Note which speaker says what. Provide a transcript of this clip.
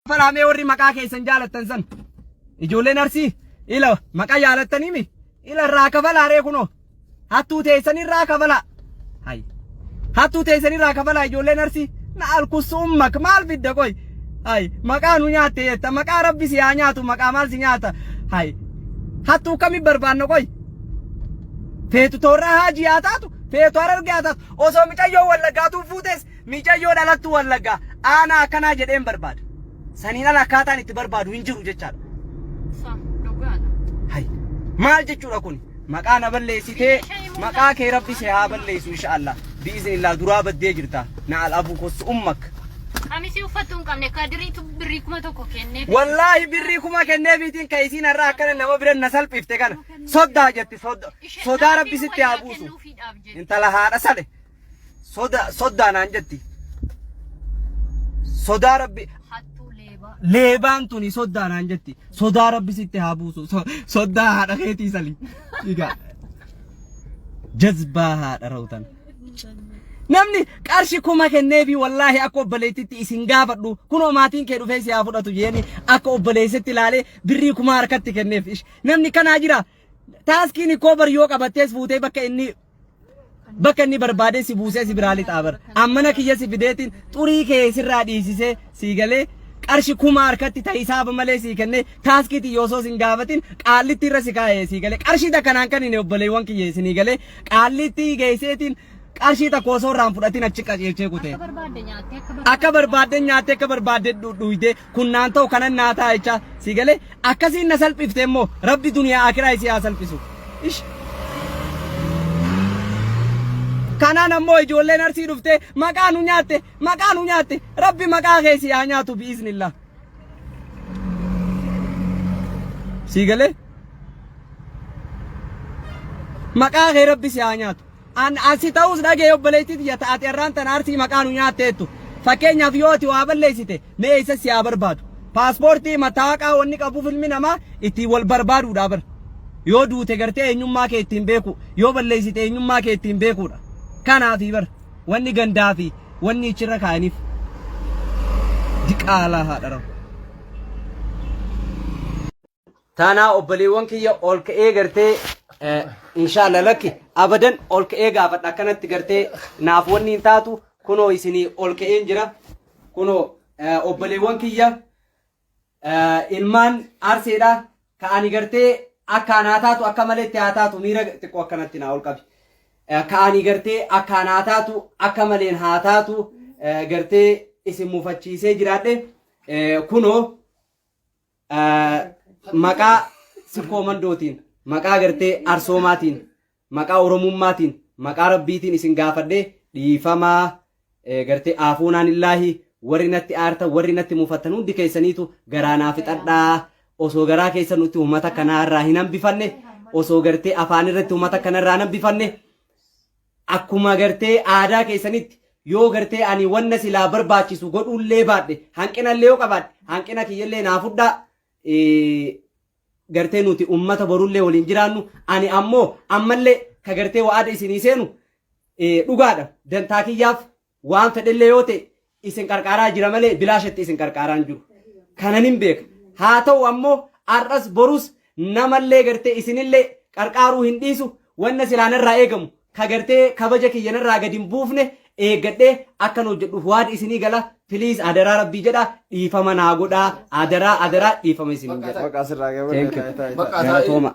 Speaker 1: falaamee warri maqaa keessan jaalattan san ijoolleen arsii ila maqaa jaalattanii mi ila irraa kafalaa ree kunoo hattuu teessan irraa kafalaa hay hattuu teessan irraa kafalaa ijoolleen arsii na alkusummak maal fidda qoy hay maqaa nu nyaatte jetta maqaa rabbi si haa nyaatu maqaa maal si nyaata hay hattuu kami barbaanna qoy feetu toorraa haajii haa taatu feetu harargee haa taatu osoo micayyoo wallaggaatuun fuutees Miicayyoo dhalattuu Wallaggaa aanaa akkanaa jedheen barbaada. Saniin ala akkaataan itti barbaadu hin jiru jechaadha. Sa dhugaadha. Hay. Maal jechuudha kun? Maqaa na balleessitee maqaa kee rabbi si haa balleessu inshaallah. Biiznillah duraa baddee jirta. Na al abu kossu ummak. Qamisii uffattu
Speaker 2: hin qabne kadiriitu birrii kuma tokko kennee. Wallaahi birrii kuma
Speaker 1: kenneefiitiin ka isiin har'a akkana nama bira na salphifte kana. Soddaa jetti sodda. Sodaa rabbi sitti haa buusu. Intala haadha sale. soda soddaa naan jetti sodaa rabbi hattuu leebaa leebaan tuni soddaa naan jetti sodaa rabbi sitti haa buusu So- soddaa haadha keetii sali dhigaa jazbaa haadha rawtan namni qarshi kuma kenneefi wallaahi akka obboleettitti isin gaafadhu kunoo maatiin kee dhufee si haa fudhatu jeeni akka obboleessetti ilaalee birrii kuma harkatti kenneef Ish, namni kanaa jira taaskiin koobar yoo qabattees fuutee bakka inni bakka inni barbaadee si buusee si biraa lixaa bar ammana kiyya si fideetiin xurii kee sirraa dhiisisee sii galee qarshi kuma harkatti ta hisaaba malee sii kennee taaskiitiin yoo osoo sin gaafatin qaallitti irra si kaa'ee sii galee qarshii takka naan kan hin obboleewwan kiyya isinii galee qaallitti geesseetiin qarshii takka osoo irraan fudhatin achi qajeelchee kutee. akka barbaadde nyaattee akka barbaadde akka barbaadde dhuydee Kun naan ta'u kanan naa ta'a jechaa sii galee akkasiin na salphifte immoo rabbi duniyaa akiraa isii haa salphisu. Ish. Kanaan ammoo ijoolleen arsii dhuftee maqaa nu nyaatte maqaa nu nyaatte rabbi maqaa kee si haa nyaatu bi'iznillah. Sii galee maqaa kee rabbi si haa nyaatu. An asi ta'uus dhaga'e obboleettii tiyya ta ati arraan tana arsii maqaa nu nyaatteettu. Fakkeenyaaf yoo ati waa balleessite mee eessa si haa barbaadu? Paaspoortii, mattaawaqaa wanni qabuuf ilmi namaa ittiin wal barbaaduudha bar. Yoo duute gartee eenyummaa kee ittiin beekuu, yoo balleessite eenyummaa kee ittiin beekuudha. Kanaafi bar wanni gandaa fi wanni ichirra kaa'aniif. Diqaalaa haadha rafu. Taanaa obboleewwan kiyya ol ka'ee gartee inshaalla lakki abadan ol ka'ee gaafadha akkanatti gartee naaf wanni hin taatu kunoo isinii ol ka'een jira kunoo obboleewwan kiyya ilmaan arseedha ka ani gartee akkaan haa taatu akka malee itti haa taatu miira xiqqoo akkanatti naa ol qabi ka ani gartee akkaan haa taatu akka maleen haa taatu gartee isin mufachiisee jiraadhe kunoo maqaa sifkoo mandootiin maqaa gartee arsoomaatiin maqaa oromummaatiin maqaa rabbiitiin isin gaafadhee dhiifamaa gartee aafuunaan illaahi warri natti aartan warri natti mufattan hundi keessaniitu garaa naa fixadhaa osoo garaa keessa nutti uummata kanaa irraa hin hambifanne osoo gartee afaan irratti uummata kana irraa hin hambifanne Akkuma gartee aadaa keessanitti yoo gartee ani wanna silaa barbaachisu godhuullee baadhe hanqinallee yoo qabaadhe hanqina kiyyallee naa fudhaa eh, gartee nuti ummata borullee waliin jiraannu ani ammoo ammallee ka gartee wa'ada isinii seenu eh, dhugaadha dantaa kiyyaaf Waan fedhellee yoo ta'e isin qarqaaraa jira malee bilaashatti isin qarqaaraa hin jiru. Kanan hin beeka. Haa ta'u ammoo har'as borus namallee gartee isinillee qarqaaruu hin dhiisu wanna silaa narraa eegamu ka gartee kabaja kiyya narraa gadi hin buufne eeggadhee akkan hojjedhuuf waada isinii gala piliis adaraa rabbii jedha dhiifama naa godhaa
Speaker 3: adaraa
Speaker 1: adaraa dhiifama isinii jedha.
Speaker 3: Maqaa
Speaker 1: asirraa Thank you.
Speaker 3: gabaadha. Maqaa isaa-
Speaker 1: Galatooma.